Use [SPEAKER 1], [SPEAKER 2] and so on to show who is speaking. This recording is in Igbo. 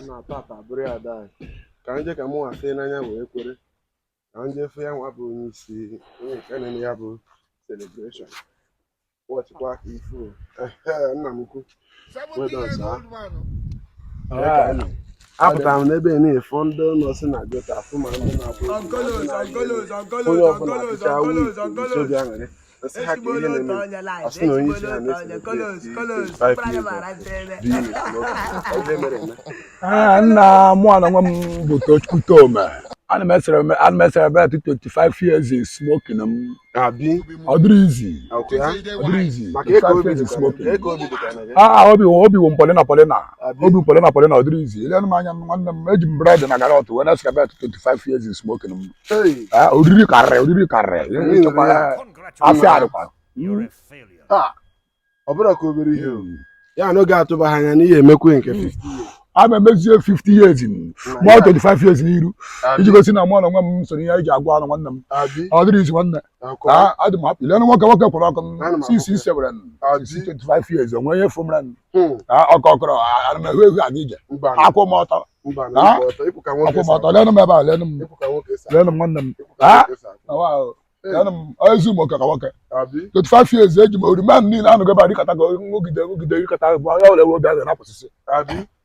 [SPEAKER 1] na tata bụrụ ya daa ka m je ka mụ nwa fụ n'anya wee kwere ka m je fụ ya nwa bụ onye isi onye nke na-eme ya bụ celebration wọchịkwa aka ifu nna m ukwu apụtara m n'ebe na-efọ ndị ụlọ si na jota afụ ma ndị na-abụ onye ọbụla pụta with sọ obi aṅụrị Let's hack it in and I still don't need to have this. Colors, colors, five years. Ah, na mụ ana nwa m bụ Tochukwu Toma. Ana m esere m ana m ecelebrate 25 years in smoking m. Abi. Ọ dịrọ easy. Ọ dịrọ easy. 25 years in smoking. Ah, obi obi wụ m polina polina. Obi m polina polina ọ dịrọ easy. Lenụ m anya nwanne m eji m bread na carrot wee na-ecelebrate 25 years in smoking m. oriri karịrị oriri karịrị afọ a dịkwa ọ bụrụ ka obere ihe hmm. ya n'oge a tụba ha anya n'ihe e mekwuo nke 50 hmm. a na-emezie 50 years ma 25 years n'iru iji gosi na mụ na nwa m so ihe anyị ji agwa unu nwanne m ọ dịrọ easy nwanne taa adị m happy lenụ nwoke nwoke kwụrụ ọkụ m si isi ecelebrate 25 years o nwe ihe ị fụ mere m taa ọkọ ọ kọrọ m ana m ehu ehu aga ije akwụ m ọtọ taa akwụ m ọtọ lenụ m ebe a lenụ m lenụ m nwanne m taa na wa ahụ lenụ m ezu m oke ka nwoke 25 years eji m ori man niile anụgo ebe a dịkọta ka nwogide nwogide dịkọta bụ onye ọbụla ewe obi aga na-apụsịsị